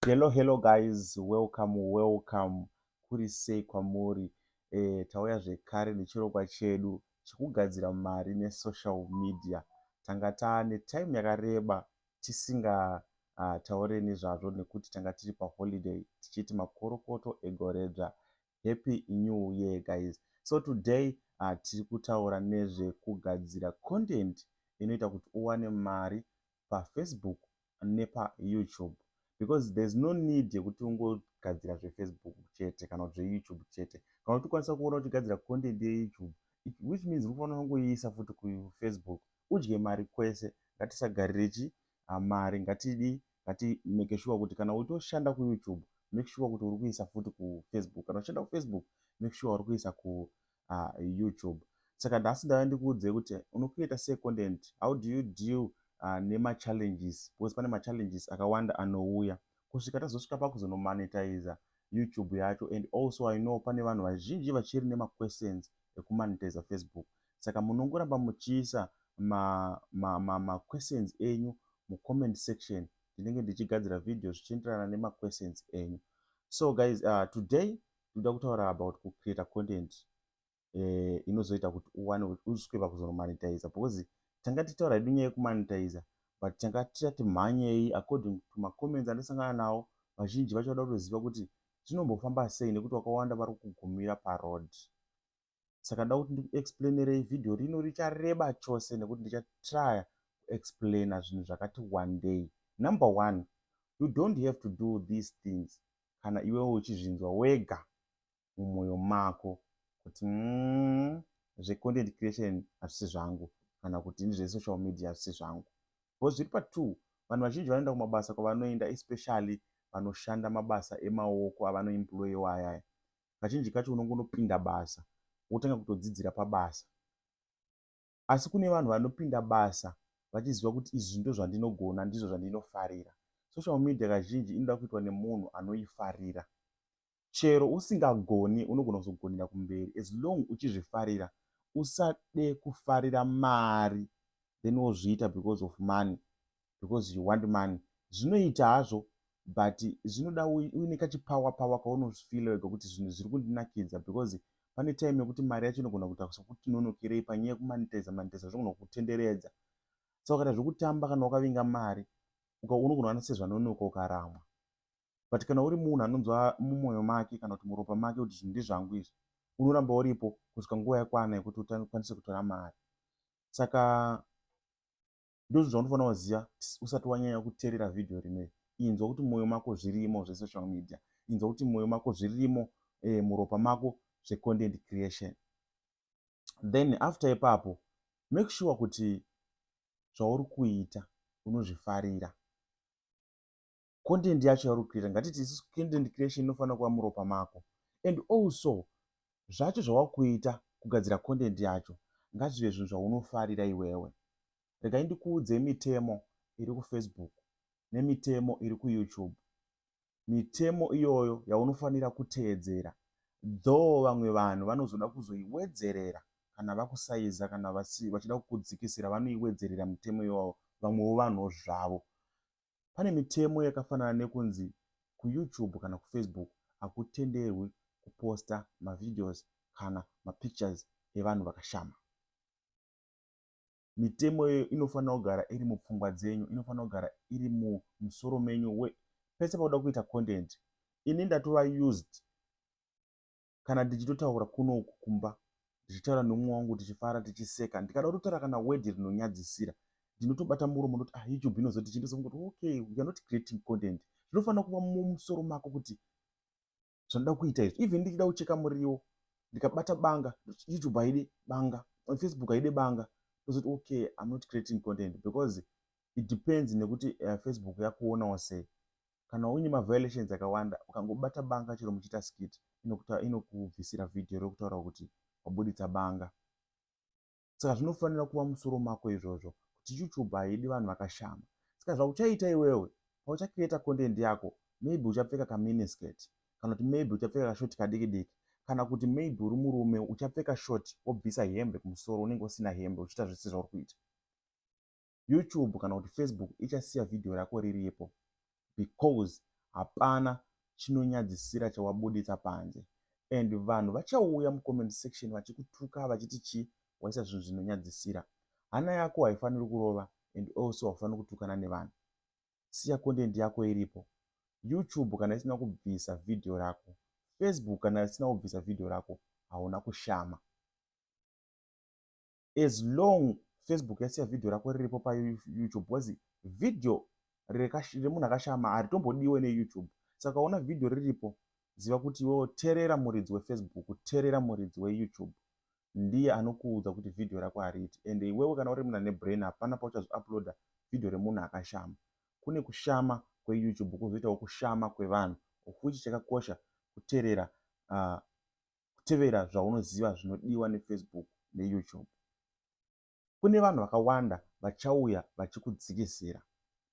Hello hello guys welcome welcome kuri sei kwamuri eh, tauya zvekare nechirongwa chedu chekugadzira mari nesocial media tanga taane time yakareba tisinga uh, taure nezvazvo nekuti tanga tiri paholiday tichiti makorokoto egoredzva happy new year guys so today uh, tiri kutaura nezvekugadzira content inoita kuti uwane mari pafacebook nepa youtube because there's no need yekuti ungogadzira zvefacebook chete kana kuti zveyoutube chete kana kuti ukwanisa kuona uchigadzira content yeyoutube which means unofanira kungoiisa futi kufacebook udye mari kwese ngatisagarire chi ah, mari ngatidi ngati make sure kuti kana utoshanda kuyoutube make sure kuti uri kuisa futi kufacebook kana uchishanda kufacebook make sure uri kuisa ku uh, youtube saka nhasi ndava ndikuudzei kuti unokrieta sei content how do you deal uh, nemachallenges because pane machallenges akawanda anouya kusvika tazosvika pakuzonomonetiza youtube yacho and also i know pane vanhu vazhinji vachiri nemaquestions ekumonetiza facebook saka munongoramba muchiisa maquestions ma, ma, ma enyu mucomment section ndinenge ndichigadzira video zvichienderana nemaquestions enyu so guys uh, today ndoda kutaura about kucreata content eh, inozoita kuti uwane uzwe pakuzonomanitiza because tanga titaura hedu nyaya yekumanitiza but tanga tisati mhanyei according to macomments andisangana nawo vazhinji vacho vada kutoziva kuti zvinombofamba sei nekuti wakawanda vari kugumira paroad saka da kuti ndikuexplainerei vhidhiyo rino richareba chose nekuti ndichatrya kuexplaina zvinhu zvakati wandei number one you don't have to do these things kana iwewo uchizvinzwa wega mumwoyo mako kuti mm, zvecontent creation hazvisi zvangu kana kuti ndizvesocial media hazvisi zvangu because zviri patwo vanhu vazhinji vanoenda kumabasa kwavanoenda especially vanoshanda mabasa emaoko avanoemployewa ayaya kazhinji kacho unongonopinda basa wotanga kutodzidzira pabasa asi kune vanhu vanopinda basa vachiziva kuti izvi ndozvandinogona ndizvo zvandinofarira social media kazhinji inoda kuitwa nemunhu anoifarira chero usingagoni unogona kuzogonera kumberi as long uchizvifarira usade kufarira mari then wozviita because of money because you want money zvinoita hazvo but zvinoda uine kachipower power kaunofeela wega kuti zvinhu zviri kundinakidza because pane time yekuti mari yacho inogona kuita sokuti nonokerei panyaya yekumanitiza manitiza zvinogona kutenderedza saka kana zvekutamba kana wakavinga mari unogona ana sezvanonoka ukaramwa but kana uri munhu anonzwa mumwoyo make kana kuti muropa make kuti zvinhu ndizvangu izvi unoramba uripo kusvika nguva yakwana yekuti ukwanise kutora mari saka ndozvinhu zvaunofanira kuziva usati wanyanya kuteerera vhidhiyo rineri inzwa kuti mwoyo mako zvirimo zvesocial media inzwa kuti mwoyo mako zvirimo eh, muropa mako zvecontent creation then after ipapo make sure kuti zvauri kuita unozvifarira content yacho yauri kucreata ngatiti isusu content creation inofanira kuva muropa mako and also zvacho zvawakuita kugadzira content yacho ngazvive zvinhu zvaunofarira iwewe regai ndikuudzei mitemo iri kufacebook nemitemo iri kuyoutube mitemo iyoyo yaunofanira kuteedzera though vamwe vanhu vanozoda kuzoiwedzerera kana vakusaiza kana vachida kukudzikisira vanoiwedzerera mitemo iyoyo vamwewo vanhuwo zvavo pane mitemo yakafanana nekunzi kuyoutube kana kufacebook hakutenderwi kuposta mavideos kana mapictures evanhu vakashama mitemo iyoyo inofanira kugara iri mupfungwa dzenyu inofanira kugara iri mumusoro menyu we pese pakuda kuita content ini ndatova used kana ndichitotaura kuno uku kumba ndichitaura neumwe wangu tichifara tichiseka ndikada kutotaura kana wedhi rinonyadzisira ndinotobata muromo ndoti ah youtube inozoti chindizoa kuti okay you're not creating content zvinofanira kuva mumusoro mako kuti zvanoda kuita izvi even ndichida kucheka muriwo ndikabata banga youtube haidi banga facebook haidi banga ndozoti okay i'm not creating content because it depends nekuti uh, facebook yakuonawo sei kana uine maviolations akawanda ukangobata banga chero muchiita skit inokubvisira ino vhidhiyo rekutaura kuti wabuditsa banga saka zvinofanira kuva musoro mako izvozvo kuti youtube haidi vanhu vakashama saka zvauchaita iwewe pauchakireta content yako maybe uchapfeka kaminisket kana kuti maybe uchapfeka kashoti kadiki diki kana kuti maybe uri murume uchapfeka shoti wobvisa hembe kumusoro unenge usina hembe uchiita zvese zvauri kuita youtube kana kuti facebook ichasiya vhidhiyo rako riripo because hapana chinonyadzisira chawabuditsa panze and vanhu vachauya mucomment section vachikutuka vachiti chii waisa zvinhu zvinonyadzisira hana yako haifaniri kurova and also haufaniri kutukana nevanhu siya content yako iripo youtube kana isina kubvisa vhidhiyo rako facebook kana isina kubvisa vhidhiyo rako hauna kushama as long facebook yasiya vhidhiyo rako riripo payoutube bcause vhidhiyo remunhu akashama haritombodiwe neyoutube saka ukaona vhidhiyo riripo ziva kuti iwewo terera muridzi wefacebook terera muridzi weyoutube ndiye anokuudza kuti vhidhiyo rako hariiti and iwewe kana uri munhu ane brain hapana pauchazouploada vhidhiyo remunhu akashama kune kushama kweyoutube kwozoitawo kushama kwevanhu ofuchi chakakosha kuterera uh, kutevera zvaunoziva zvinodiwa nefacebook neyoutube kune vanhu vakawanda vachauya vachikudzikisira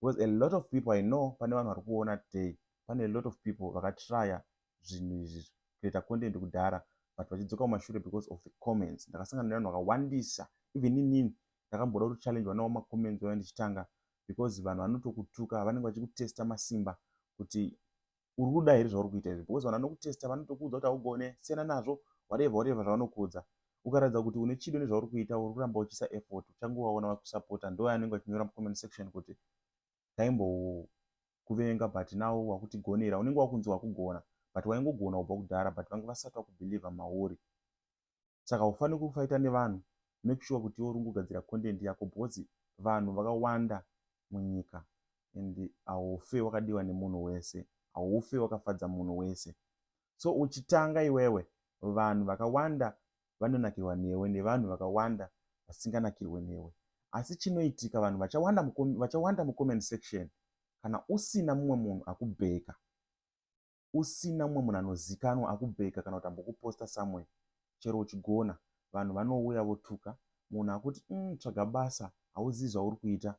because a lot of people i know pane vanhu vari kuona today pane a lot of people vakatrya zvinhu izvi kuita content kudhara but vachidzoka mumashure because of the comments ndakasangana nevanhu vakawandisa even inini ndakamboda kuti challenge vanawo macomments vaya ndichitanga because vanhu vanotokutuka vanenge vachikutesta masimba kuti uri kuda here zvauri kuita izvi because vanhu vanokutesta vanotokuudza kuti haugone siyana nazvo whatever whatever zvavanokuudza ukaratidza kuti une chido nezvauri kuita uri kuramba uchiisa effort uchangovaona vakusapota ndo anenge vachinyora mucomment section kuti taimbokuvenga but now wakutigonera unenge wakunzi wakugona but waingogona kubva kudhara but vanga vasati vakubhilivha mauri saka haufaniri kufaita nevanhu make sure kuti iwe uri kugadzira content yako because vanhu vakawanda munyika and haufe wakadiwa nemunhu wese haufe wakafadza munhu wese so uchitanga iwewe vanhu vakawanda vanonakirwa newe nevanhu vakawanda vasinganakirwe newe asi chinoitika vanhu vachawanda mucomment section kana usina mumwe munhu akubheka usina mumwe munhu anozikanwa akubheka kana kuti ambokuposta somewhere chero uchigona vanhu vanouya votuka munhu akuti mm, tsvaga basa hauzivi zvauri kuita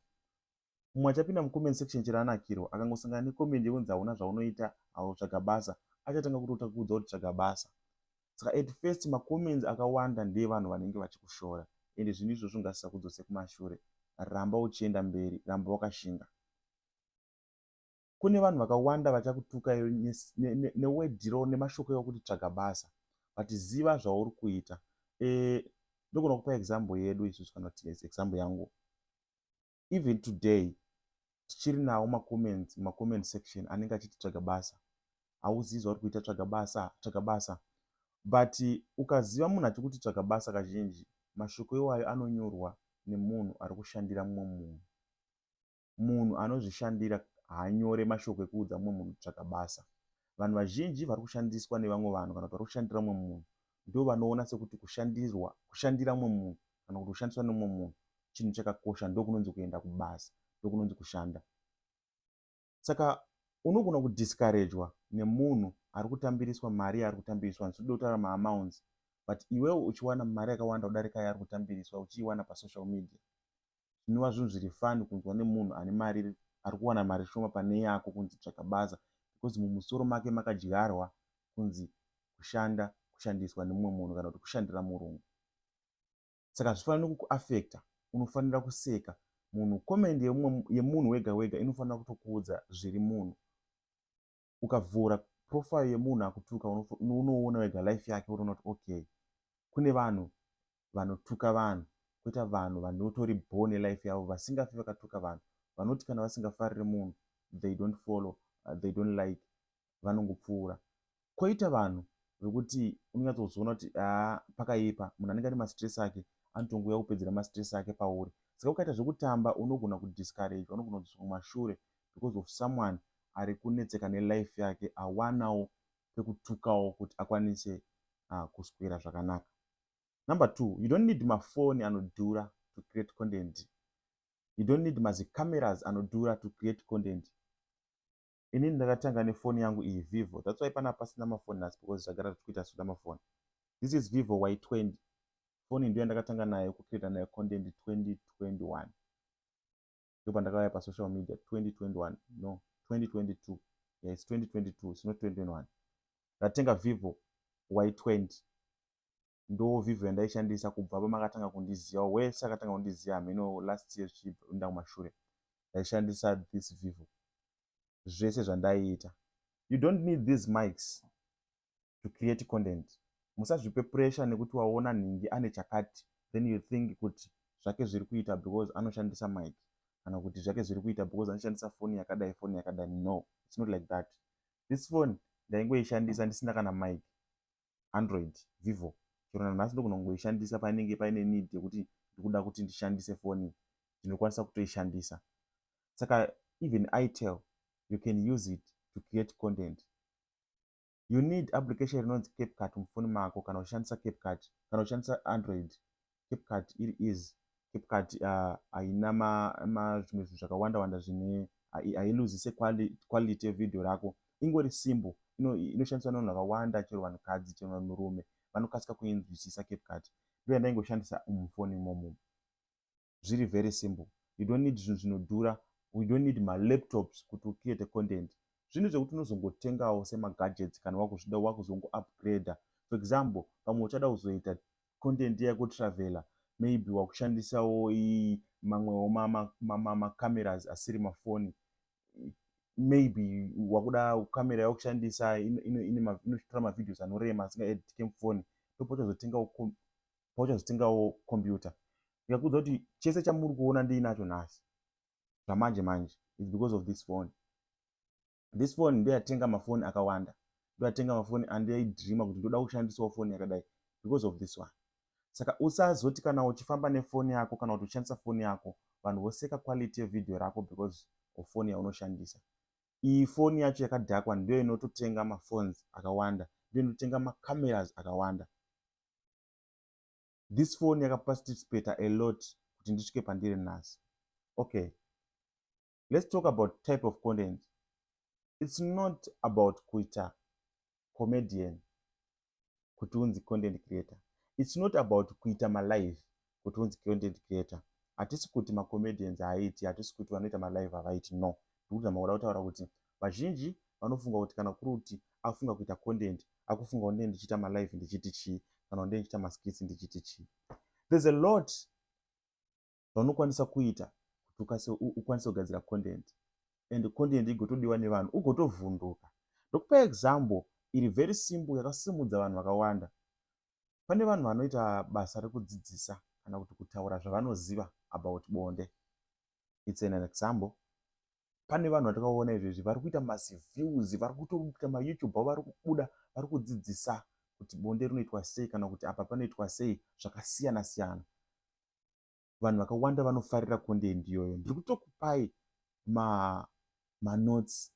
mumwe achapinda mucomment section chero anakirwa akangosangana necomment yekunzi hauna zvaunoita hautsvaga basa achatanga kutota kuudza kuti tsvaga basa saka at first macomments akawanda ndeevanhu vanenge vachikushora ende zvinhu izvozvo ngasisa kudzose kumashure ramba uchienda mberi ramba wakashinga kune vanhu vakawanda vachakutuka iwe newedhiro nemashoko ekuti tsvaga basa but ziva zvauri kuita eh, ndogona kupa example yedu isusu kana kuti yes example yangu even today tichiri nawo macomments macomment section anenge achiti tsvaga basa hauzivi zvauri kuita tsvaga basa tsvaga basa but ukaziva munhu achikuti tsvaga basa kazhinji mashoko iwayo anonyorwa nemunhu ari kushandira mumwe munhu munhu anozvishandira haanyore mashoko ekuudza mumwe munhu kutsvaka basa. Vanhu vazhinji vari kushandiswa nevamwe vanhu kana kuti vari kushandira mumwe munhu ndovanoona sekuti kushandirwa kushandira mumwe munhu kana kuti kushandiswa nemumwe munhu chinhu chakakosha ndokunonzi kuenda kubasa ndokunonzi kushanda saka unogona kudiskarejwa nemunhu ari kutambiriswa mari yaari kutambiriswa handisi kuda kutaura maamounts but iwewo uchiwana mari yakawanda kudarika yaari kutambiriswa uchiiwana pasocial media zvinova zvinhu zviri fani kunzwa nemunhu ane mari ari kuwana mari shoma pane yako kunzi tsvaga basa because mumusoro make makadyarwa kunzi kushanda kushandiswa nemumwe munhu kana kuti kushandira murungu saka hazvifaniri kukuafecta unofanira kuseka munhu comment yemunhu wega wega inofanira kutokuudza zviri munhu ukavhura profile yemunhu akutuka unoona wega life yake unoona kuti okay kune vanhu vanotuka vanhu koita vanhu vanotori bho nelife yavo vasingafi vakatuka vanhu vanoti kana vasingafariri munhu they don't follow uh, they don't like vanongopfuura koita vanhu vekuti unonyatsozoona kuti aa pakaipa munhu anenge ane mastress ake anotongouya kupedzera mastress ake pauri saka ukaita zvekutamba unogona kudiscourage unogona kudziswa kumashure because of someone ari kunetseka nelife yake awanawo pekutukawo kuti akwanise uh, kuswera zvakanaka number two you don't need mafoni anodhura to create content you don't need mazicameras anodhura to create content ini ndakatanga nefoni yangu iyi vivo that's why pana pasina mafoni nhasi because zvagara tichikuita soda mafoni this is vivo y20 foni ndiyo yandakatanga nayo kucreata nayo content 2021 ndopandakauya pasocial media 2021 no 2022 yeah, its 2022 its not 2021 ndatenga vivo y20 ndo vivo yandaishandisa kubva pamakatanga kundiziva wese akatanga kundiziva hameno last year chiinda kumashure ndaishandisa this vivo zvese zvandaiita you don't need these mikes to create content musazvipe pressure nekuti waona nhingi ane chakati then you think kuti zvake zviri kuita because anoshandisa mic kana kuti zvake zviri kuita because anoshandisa foni yakadai foni yakadai no its not like that this fone ndaingoishandisa ndisina kana mic android vivo chero nanhasi ndokunongoishandisa painenge paine need yekuti ndikuda kuti ndishandise foni ndinokwanisa kutoishandisa saka even itel you can use it to create content you need application rinonzi capcut mufoni mako kana uchishandisa capcut kana uchishandisa android capcut iri easy capcut uh, haina zvimwe zvinhu zvakawanda wanda zvine hailuzise quality yevideo rako ingori simbo inoshandiswa nevanhu vakawanda chero vanhukadzi chero vanhurume vanokasika kuinzwisisa capcut ndoya ndaingoshandisa mufoni imomo zviri very simple you don't need zvinhu zvinodhura we don't need malaptops kuti ucreate content zvinhu zvekuti unozongotengawo semagadgets kana wakuzvida wakuzongoupgrader for example pamwe uchada kuzoita content yako traveler maybe wakushandisawo mamwewo macameras asiri mafoni maybe wakuda camera yakushandisa inotora mavideos anorema asingaeditike mufoni ndopauchazotengawo pauchazotengawo computer ndikakuudza kuti chese chamuri kuona ndiinacho nhasi zvamanje manje its because of this phone this phone ndoyatenga mafoni akawanda ndoyatenga mafoni andiaidreama kuti ndoda kushandisawo foni yakadai because of this one saka usazoti kana uchifamba nefoni yako kana kuti uchishandisa foni yako vanhu voseka quality yevideo rako because of foni yaunoshandisa iyi foni yacho yakadhakwa ndiyo inototenga mafones akawanda ndiyo inototenga macameras akawanda this phone yakaparticipata a lot kuti ndisvike pandiri nhasi okay let's talk about type of content it's not about kuita comedian kuti unzi content creator it's not about kuita malive kuti unzi content creator hatisi kuti macomedians haaiti hatisi kuti vanoita malive havaiti no ndikuti zamakuda kutaura kuti vazhinji vanofunga kuti kana kuri kuti akufunga kuita content akufunga kuti ndee ndichiita malive ndichiti chii kana kuti ndee ndichiita maskits ndichiti chii there's a lot zvaunokwanisa kuita kuti ukwanise kugadzira content and content igotodiwa nevanhu ugotovhunduka ndokupa example iri very simple yakasimudza vanhu vakawanda pane vanhu vanoita basa rekudzidzisa kana kuti kutaura zvavanoziva about bonde its an example pane vanhu vatakaona izvezvi vari kuita maziviews vari kutoita mayoutube avo vari kubuda vari kudzidzisa kuti bonde rinoitwa sei kana kuti apa panoitwa sei zvakasiyana siyana vanhu vakawanda vanofarira content iyoyo ndiri kutokupai ma manotes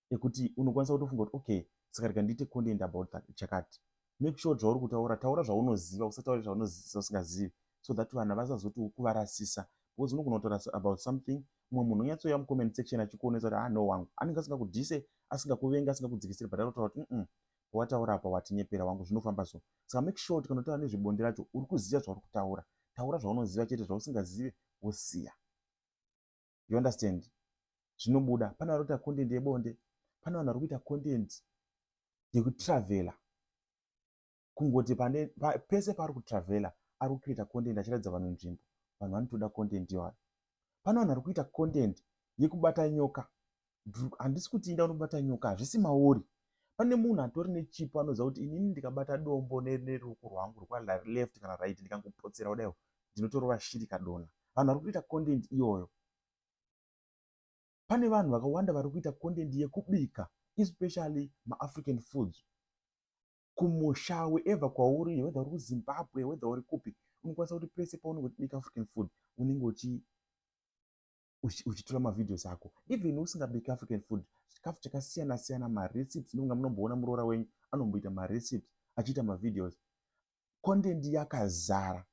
ekuti unokwanisa kutofunga kuti okay saka rika ndiite content about that chakati make sure zvauri kutaura taura zvaunoziva usataure zvaunozivasingazivi so that vanhu vasazoti kuvarasisa because unogona kutorasa about something mumwe munhu onyatsouya mucomment section achikuonesa kuti ah no wangu anenge asingakudhise asingakuvenga asingakudzikisiri but anotaura kuti mm pawataura apa watinyepera wangu zvinofamba so saka make sure kuti kana utaura nezvebonde racho uri kuziva zvauri kutaura taura zvaunoziva chete zvausingazive wosiya you understand zvinobuda pane vari kuita content yebonde pane vanhu vari kuita content yekutravela kungoti pane pa, pese paari kutravela ari kucreata content achiratidza vanhu nzvimbo vanhu vanotoda content iwayo pane vanhu vari kuita content yekubata nyoka handisi kuti inda unobata nyoka hazvisi maori pane munhu atori nechipo anoziva kuti inini ndikabata dombo neruoko rwangu rwaleft kana right ndikangopotsera kudai ndinotorova shiri kadona vanhu vari kutoita content iyoyo pane vanhu vakawanda vari kuita content yekubika especially maafrican foods kumusha weever kwauri whether uri kuzimbabwe whether uri kupi unokwanisa kuti pese paunenge uchibika african food unenge uchi uchitora mavideos ako even usingabiki african food chikafu chakasiyana siyana marecipes nonga munomboona muroora wenyu anomboita marecipes achiita mavideos content yakazara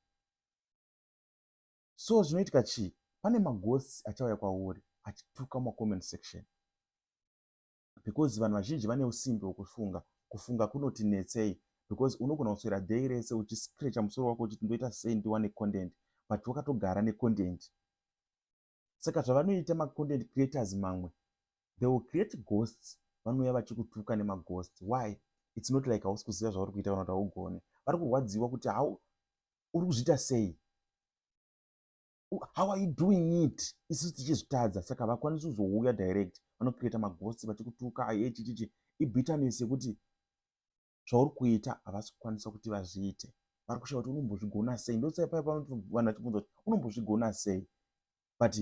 so zvinoitika chii pane magosi achauya kwauri achituka mumacomment section because vanhu vazhinji vane usimbi hwekufunga kufunga kunoti netsei because unogona kuswera day rese uchiscrecha musoro wako uchiti ndoita sei ndiwane content but wakatogara necontent saka zvavanoita macontent creators mamwe they will create ghosts vanouya vachikutuka nemaghost why its not like hausi kuziva zvauri kuita kana kuti haugone vari kurwadziwa kuti hau uri kuzviita sei how are you doing it isusu tichizvitadza saka vakwanisi kuzouya direct vanocreata magosi vachikutuka aye chichichi ibitanesi yekuti zvauri kuita havasi kukwanisa kuti vazviite vari kushaya kuti unombozvigona sei ndosaipai vanhu vachibvunza kuti unombozvigona sei but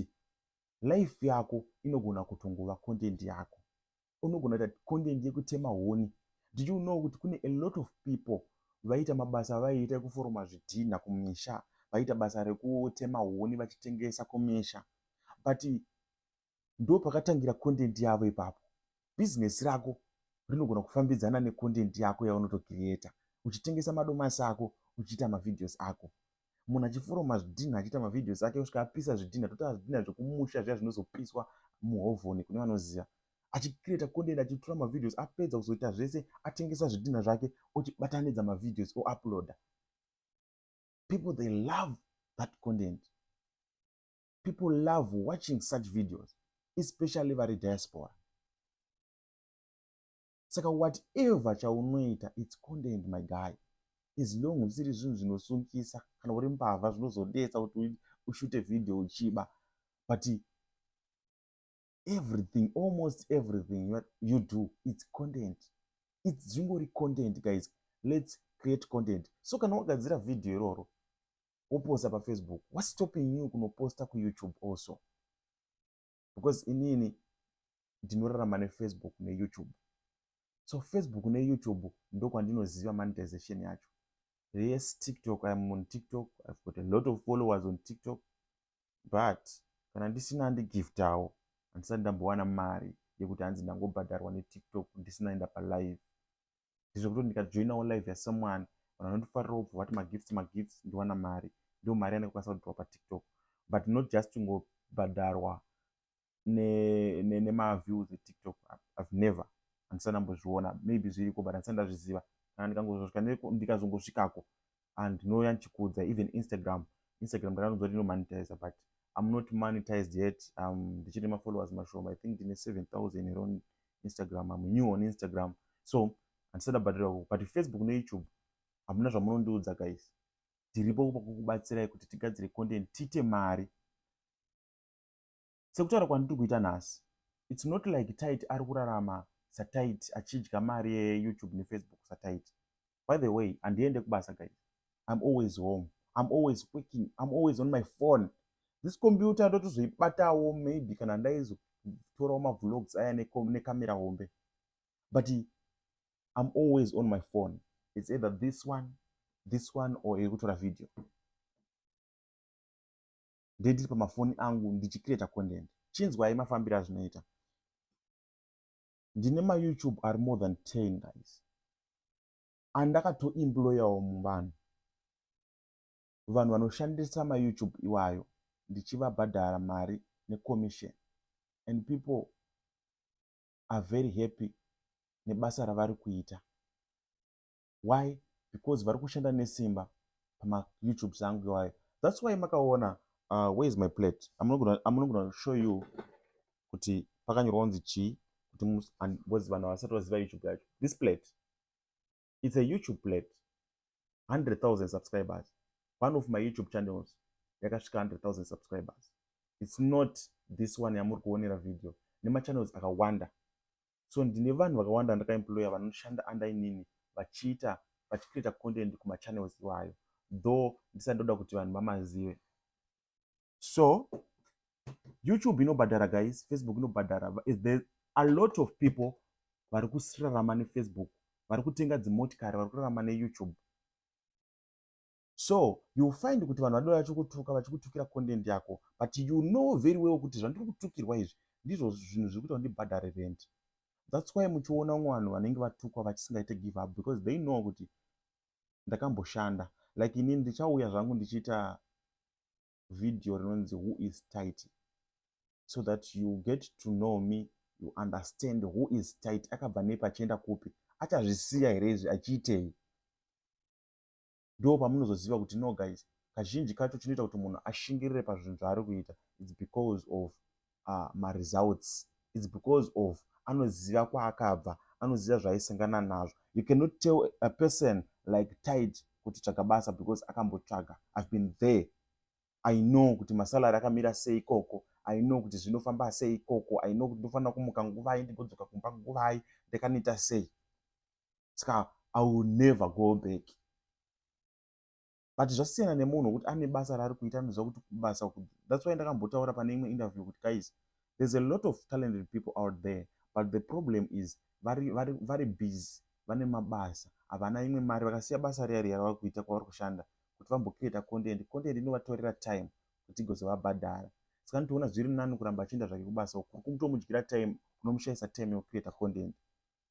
life yako inogona kutongova content yako unogona kuita content yekutema huni did you know kuti kune a lot of people vaita mabasa avaiita ekuforoma zvidhinha kumisha vaita basa rekutema huni vachitengesa kumisha but ndo pakatangira content yavo ipapo bhizinesi rako rinogona kufambidzana necontent yako yaunotokiriyeta uchitengesa madomasi ako uchiita mavhideos ako munhu achiforoma zvidhinha achiita mavideos ake osvika apisa zvidhinha totaura zvidhinha zvekumusha zviya zvinozopiswa muhovhoni kune vanoziva achicreata content achitora mavideos apedza kuzoita zvese atengesa zvidhinha zvake ochibatanidza mavideos ouploada people they love that content people love watching such videos especially vari diaspora saka whatever chaunoita its content my guy as long zvisiri zvinhu zvinosungisa kana uri mbavha zvinozodetsa kuti ushute video uchiba but everything almost everything you do its content its zvingori content guys let's create content so kana wagadzira video iroro woposta pafacebook whatstopping you kunoposta kuyoutube also because inini ndinorarama nefacebook neyoutube so facebook neyoutube ndokwandinoziva monetization yacho yes tiktok iam on tiktok ive got a lot of followers on tiktok but kana ndisina handigiftawo handisati ndambowana mari yekuti hanzi ndangobhadharwa netiktok ndisina enda palive ndizvo kuti ndikajoinawo live yasomeone vanhu vanotofarirawo bva vati magifts magifts ndiwana mari ndo mari yanenge kwanisa kudhiwa patiktok but not just kungobhadharwa nemaviews etiktok ive never handisati ndambozviona maybe zviriko but handisati ndazviziva kana ndikazongosvikako and ndinouya ndichikuudza even instagram instagram ndakanonzwa kuti inomonetize but im not monetized yet um, ndichiri um, mafollowers mashoma i think ndine 7000 here on instagram im new on instagram so handisada bhadhira kuko but facebook neyoutube hamuna zvamunondiudza guys tiripo kupa kukubatsirai kuti tigadzire content tiite mari sekutaura kwandiri kuita nhasi its not like tit ari kurarama satit achidya mari yeyoutube nefacebook satit by the way handiende kubasa guys im always home im always working im always on my phone this computer ndotozoibatawo maybe kana ndaizotorawo mavlogs aya necamera hombe but im always on my phone its either this one this one or iri kutora video ndee ndiri pamafoni angu ndichicreata content chinzwai mafambiro azvinoita ndine mayoutube ari more than 10 guys andakatoimployawo muvanhu vanhu vanoshandisa mayoutube iwayo ndichivabhadhara mari necommission and people are very happy nebasa ravari kuita why because vari kushanda nesimba pama youtubes angu iwayo thats why makaona uh, where is my plate amunogona show you kuti pakanyorwa kunzi chii kuti ngozi vanhu havasati vaziva youtube yacho this plate its a youtube plate 100 000 subscribers one of my youtube channels yakasvika 100 000 subscribers its not this one yamuri kuonera video nemachannels akawanda so ndine vanhu vakawanda vandakaemploya vanoshanda under inini vachiita vachicreata content kumachannels iwayo though ndisati ndoda kuti vanhu vamazive so youtube inobhadhara guys facebook inobhadhara there a lot of people vari kusirarama nefacebook vari kutenga dzimotikari vari kurarama neyoutube so you find kuti vanhu vadora vachikutuka vachikutukira content yako but you know very well kuti zvandiri kutukirwa izvi ndizvo zvinhu zviri kuita kundibhadhare rent thats why muchiona vamwe vanhu vanenge vatukwa vachisingaite give up because they know kuti ndakamboshanda like ini ndichauya zvangu ndichiita video rinonzi who is tight so that you get to know me you understand who is tight akabva nepi achienda kupi achazvisiya here izvi achiitei ndo pamunozoziva kuti no guys kazhinji kacho chinoita kuti munhu ashingirire pazvinhu zvaari kuita its because of uh, maresults its because of anoziva kwaakabva anoziva zvaaisangana nazvo you cannot tell a person like tight kuti tsvaga basa because akambotsvaga ihave been there i know kuti masalary akamira sei ikoko i know kuti zvinofamba sei ikoko i know kuti ndofanira kumuka nguvai ndigodzoka kumba nguvai ndakanoita sei saka i will never go back but zvasiyana nemunhu wekuti ane basa raari kuita anoziva kuti kubasa thats why ndakambotaura pane imwe interview kuti guys there's a lot of talented people out there but the problem is vari, vari, vari busy vane mabasa havana imwe mari vakasiya basa riya riya ravari kuita kwavari kushanda kuti vambokireta content content inovatorera time kuti igozovabhadhara saka nitoona zviri nani kuramba achienda zvake kubasa uku kuri kumutomudyira time unomushaisa time yokukireta content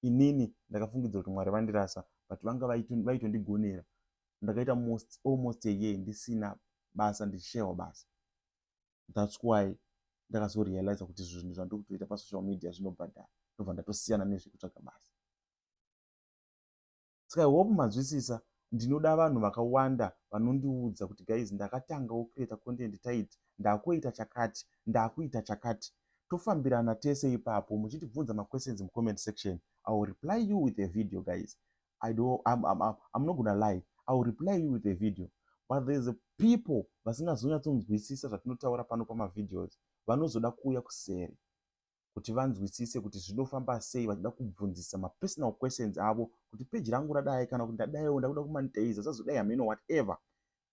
inini ndakafungidza kuti mwari vandirasa but vanga vaitondigonera ndakaita most almost a year ndisina basa ndichishayiwa basa thats why ndakazorealiza kuti zvinhu zvandiri kutoita pasocial media zvinobhadhara ndobva ndatosiyana nezvekutsvaga basa ska i hope mazwisisa ndinoda vanhu vakawanda vanondiudza kuti guys ndakatangawo creata content tait ndakoita chakati ndakuita chakati tofambirana tese ipapo muchitibvunza maquestions mucomment section i will reply you with a video guys i do I'm, I'm, I'm, i'm not gonna lie i will reply you with a video but there's a people vasingazonyatsonzwisisa zvatinotaura pano pamavideos vanozoda kuuya kuseri kuti vanzwisise kuti zvinofamba sei vachida kubvunzisa mapersonal questions avo kuti page rangu radai kana kuti ndadaiwo ndakuda kumanitaiza sazodai hameno whatever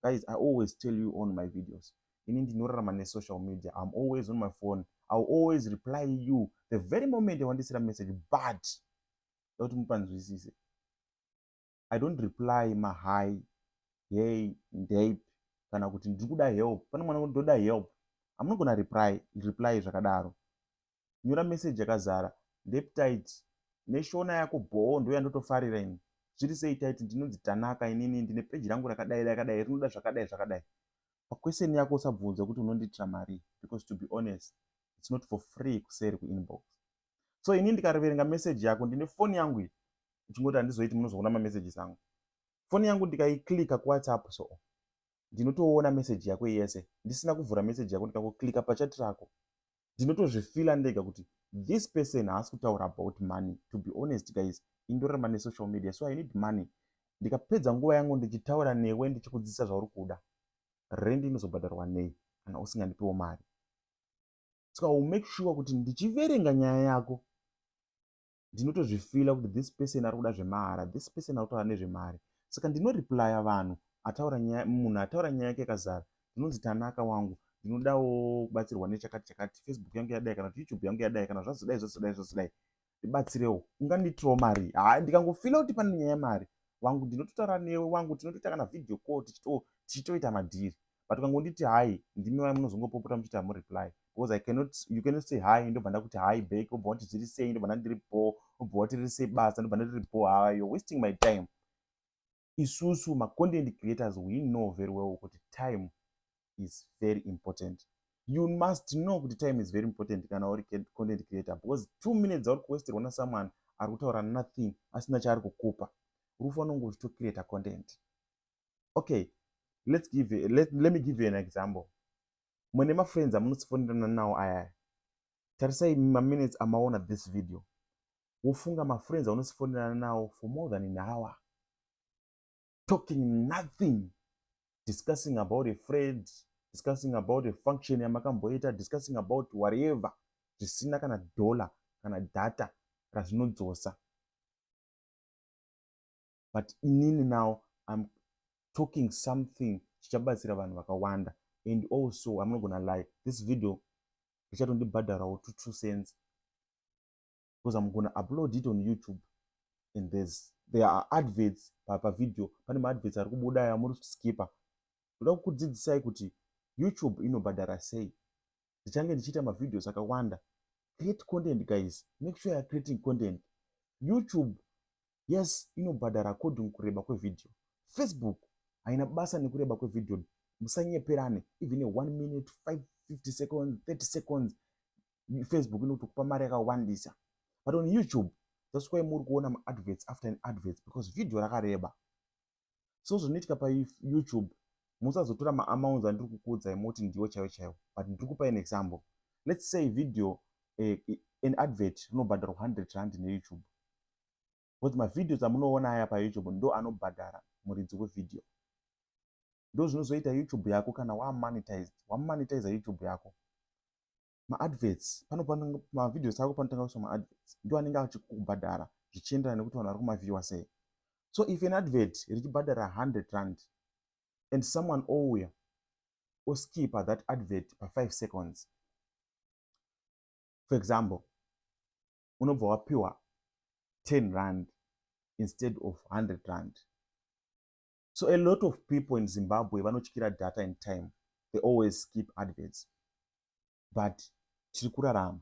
guys i always tell you on my videos ini ndinorarama nesocial media im always on my phone ill always reply you the very moment wandisira message but dakuti mupanzwisise i don't reply ma hi hey ndep kana kuti ndiri kuda help pane mwana ndoda help amunogona reply reply zvakadaro nyora message yakazara ndep tit neshona yako bhoo ndo yandotofarira ini zviri sei tit ndinonzi tanaka inini ndine peji rangu rakadai rakadai rinoda zvakadai zvakadai paquestion yako usabvunza kuti unondiitira mari because to be honest its not for free kuseri kuinbox so ini ndikariverenga message yako ndine foni yangu iyi uchingoti handizoiti munozoona mamessages angu foni yangu ndikaiclika kuwhatsapp so ndinotoona message yako yese ndisina kuvhura message yako ndikakoclika pachati rako ndinotozvifila ndega kuti this person haasi kutaura about money to be honest guys indorarama nesocial media so i need money ndikapedza nguva yangu ndichitaura newe ndichikudzidzisa zvauri kuda rendi inozobhadharwa nei kana usingandipiwo mari so i will make sure kuti ndichiverenga nyaya yako ndinotozvifila kuti this person ari kuda zvemahara this person ari kutaura nezvemari saka ndinoreplya vanhu ataura nyaya munhu ataura nyaya yake yakazara ndinonzi tanaka wangu ndinodawo kubatsirwa nechakati chakati facebook yangu yadai kana kuti youtube yangu yadai kana zvazodai zvazodai zvazodai ndibatsirewo ungandiitirawo mari haa ndikangofila kuti pane nyaya yemari wangu ndinototaura newe wangu tinotoita kana video call tichitoita madhiri but ukangonditi hai ndimi vaya munozongopopota muchiti hamureply because i cannot you cannot say hai ndobva ndakuti hai back obva wati zviri sei ndobva ndandiri bho obva wati riri sei basa ndobva ndariri bho haa you're wasting my time isusu macontent creators we know very well kuti time is very important you must know kuti time is very important kana uri content creator because two minutes dzauri kuwesterwa nasomeone ari kutaura nothing asina chaari kukupa uri kufanira kunge uchitocreata content okay let's give you, let, let me give you an example mune mafriends amunosifonerana nawo ayaya tarisai maminutes amaona this video wofunga mafriends aunosifonerana nawo for more than an hour talking nothing discussing about a friend discussing about a function yamakamboita discussing about whatever zvisina kana dollar kana data razvinodzosa but inini now im talking something chichabatsira vanhu vakawanda and also i'm not gonna lie this video richatondibhadharawo to two cents because I'm gonna upload it on YouTube and there's there are adverts pa, pa video pane maadverts ari kubuda aya muri kuskipa ndoda kukudzidzisai kuti YouTube inobhadhara sei ndichange ndichiita mavideos akawanda create content guys make sure you're creating content YouTube yes inobhadhara according kureba kwevideo Facebook haina basa nekureba kwevideo musanyeperane even a one minute 550 seconds 30 seconds Facebook inotokupa mari yakawandisa but on YouTube that's why muri kuona maadverts after an adverts because video rakareba so zvinoitika payoutube musazotora maamounts andiri kukuudzai moti ndiwo chaiwo chaiwo but ndiri kupa an example let's say video uh, an advert rinobhadharwa 100 rand neyoutube because mavideos amunoona aya payoutube ndo anobhadhara muridzi wevideo ndozvinozoita youtube yako kana wamonetized wamonetiza youtube yako maadverts pano pamavideos ako panotanga kuiswa maadverts ndo anenge achikubhadhara zvichienderana nekuti vanhu vari kumavhiwa sei so if an advert richibhadhara 100 rand and someone ouya oskipa that advert pa5 seconds for example unobva wapiwa 10 rand instead of 100 rand so a lot of people in zimbabwe vanotyira data in time they always skip adverts but tiri kurarama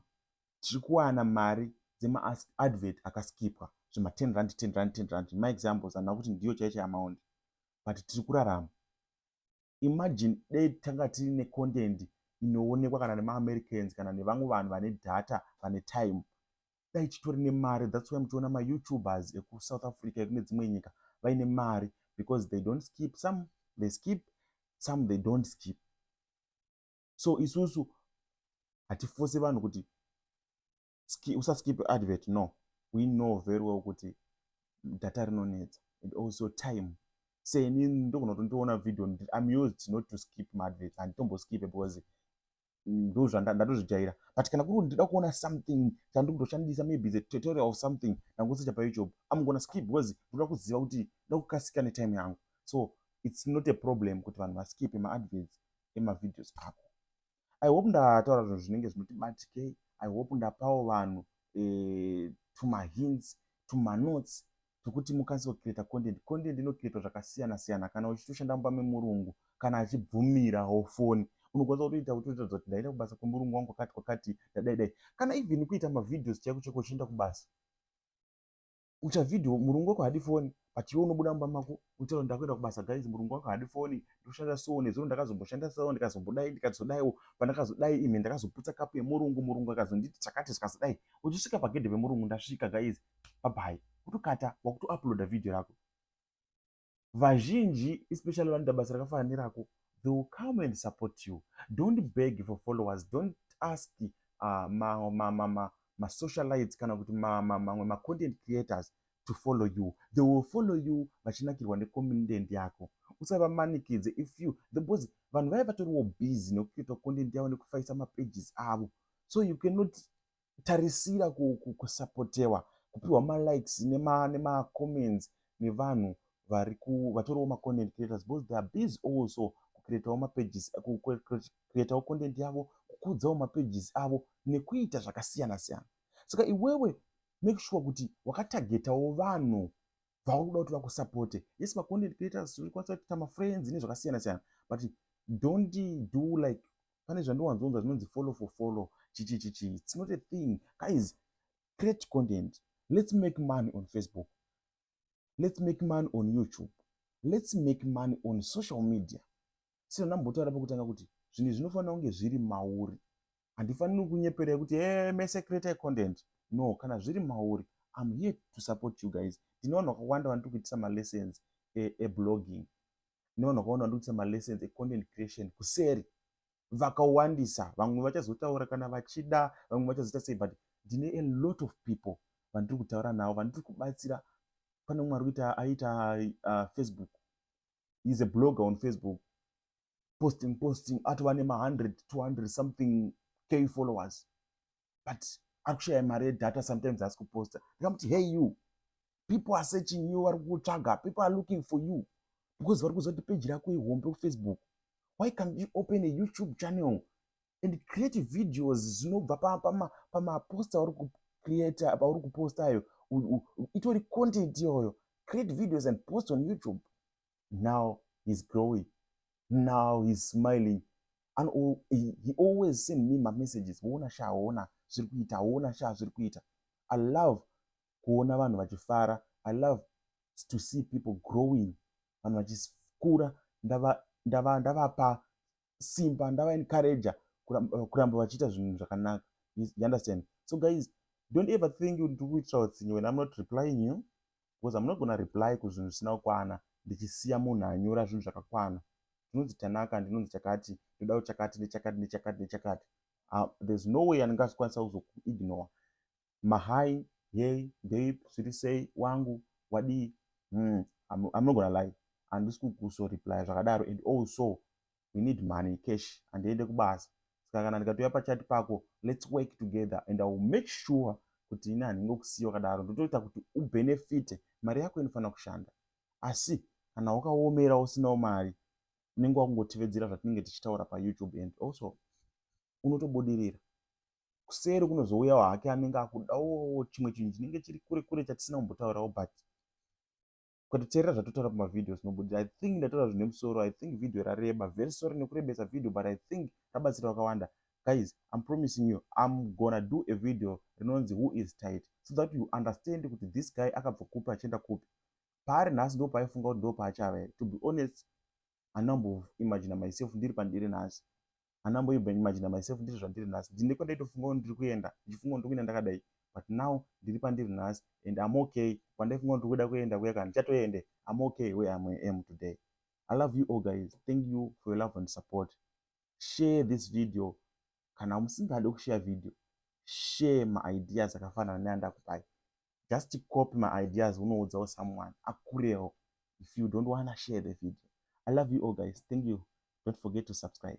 tiri kuwana mari dzemaadvert akaskipwa zvema 10 rand 10 rand 10 rand maexamples anaa kuti ndiyo chaicho amaundi but tiri kurarama Imagine dei tanga tiri ne content inoonekwa kana nema Americans kana nevamwe vanhu vane data vane time dai titori nemari that's why muchiona ma youtubers eku South Africa ekune dzimwe nyika vaine mari because they don't skip some they skip some they don't skip so isusu hatifose vanhu kuti ski, usaskip advert no we know very well kuti data rinonetsa and also time seni ndogona kuti ndoona video im used not to skip maadverts handitomboskipe because ndozvandatozvijaira but kana kuri ndida kuona something chandikutoshandisa maybe the tutorial of something ndangosecha payoutube im gona skip because ndoda kuziva kuti nda kukasika netime yangu so it's not a problem kuti vanhu vaskipe maadverts emavideos ako i hope ndataura zvinhu zvinenge zvinoti batikei i hope ndapawo vanhu eh, tumahints tumanotes tokuti mukwanise kucreata content content inocreatwa zvakasiyana siyana kana uchitoshanda mumba memurungu kana achibvumira hofoni unokwanisa kutoita utoita zati ndaenda kubasa kwemurungu wangu kwakati kwakati ndadaidai kana even kuita mavideos chaiko chaiko uchienda kubasa ucha video murungu wako hadi foni but iwe unobuda mumba mako uchaura ndakuenda kubasa guys murungu wako hadi foni ndoshanda so nezuro ndakazomboshanda so ndikazombodai ndikazodaiwo pandakazodai imi ndakazoputsa kapu yemurungu murungu akazonditi chakati zvikazodai uchisvika pagedhe pemurungu ndasvika guys babai kutokata wakutouploada video rako vazhinji especially vanoita basa rakafanana nerako they will come and support you don't beg for followers don't ask uh, ma, ma, ma, ma, masocialites kana kuti mamwe ma, ma, macontent creators to follow you they will follow you vachinakirwa necontent yako usavamanikidze if you the bos vanhu vaya vatoriwo busy nekuita content yavo nekufaisa mapages avo so you cannot tarisira kusapotewa kupiwa malikes nemacomments nevanhu vatoriwo macontent creators because they are busy also kucreatawo mapages kucreatawo content yavo kukudzawo mapages avo nekuita zvakasiyana siyana saka iwewe make sure kuti wakatagetawo vanhu vauri kuda kuti vakusapote yes macontent creators uri kwanisa kuita mafriends nezvakasiyana siyana but don't do like pane zvandiwanzonza zvinonzi follow for follow chichichichi its not a thing guys create content let's make money on facebook let's make money on youtube let's make money on social media sino ndambotaura pakutanga kuti zvinhu zvinofanira kunge zviri mauri handifaniri kunyeperei kuti e eh, mese create content no kana zviri mauri im here to support you guys ndine vanhu vakawanda vanotikuitisa malessons eblogging e nevanhu vakawanda vandokuita malessons econtent creation kuseri vakawandisa vamwe vachazotaura kana vachida vamwe vachazoita sei but ndine a lot of people vandiri kutaura navo vandiri kubatsira pane umwe ari kuita aita uh, facebook is a blogger on facebook posting posting atova nema 100 200 something k followers but ari kushaya mari yedata sometimes asi kuposta ndikamuti hey you people are searching you vari kukutsvaga people are looking for you because vari kuziva kuti peji rako ihombe kufacebook why can't you open a youtube channel and create videos zvinobva pamaposta auri kucreata pauri kuposta ayo itori content iyoyo create videos and post on youtube now he's growing now he's smiling and all, he, he always send me mamessages woona sha woona zviri kuita woona sha zviri kuita i love kuona vanhu vachifara i love to see people growing vanhu vachikura ndavapa ndava, ndava simba ndava encourager eh, kuramba vachiita zvinhu zvakanaka you understand so guys don't ever think kuti tiri kuitira utsinye when i'm not replying you because i'm not gona reply kuzvinhu zvisina kukwana ndichisiya munhu anyora zvinhu zvakakwana ndinonzi tanaka ndinonzi chakati ndodawo chakati nechakati nechakati nechakati ah, there's no way andingasikwanisa kuzokuignore Mahai, hey, babe, zviri sei, wangu, wadii, hmm, I'm, I'm not gonna lie, handisi kukuso reply zvakadaro and also we need money cash handiende kubasa saka kana ndikatouya pachati pako let's work together and i will make sure kuti ini handinge kusiya wakadaro ndotoita kuti ubenefite mari yako inofanira kushanda asi kana wakaomera usinawo mari unenge wakungotivedzera zvatinenge tichitaura payoutube and also unotobudirira kuseri kunozouyawo hake anenge akudawo chimwe chinhu chinenge chiri kure kure chatisina kumbotaurawo but ukatoteerera zvatotaura pamavideo zvinobudira i think ndataura zvine musoro i think video rareba very sorry nekurebesa video but i think rabatsira wakawanda guys im promising you im gonna do a video rinonzi who is tight so that you understand kuti this guy akabva kupi achienda kupi paari nhasi ndo paaifunga kuti ndo paachava here to be honest handina kumbo imagina myself ndiri pandiri nhasi handina kumbo imagina myself ndiri zvandiri nhasi ndine kwandaitofunga kuti ndiri kuenda ndichifunga kuti ndiri kuenda ndakadai but now ndiri pandiri nhasi and am okay kwandaifunga kuti ndiri kuda kuenda kuya kana ndichatoende am okay where am, am today i love you all guys thank you for your love and support share this video kana musingade kushare video share maideas akafanana neandakupai just copy my ideas unoudzawo someone akurewo if you don't wanna share the video i love you all guys thank you don't forget to subscribe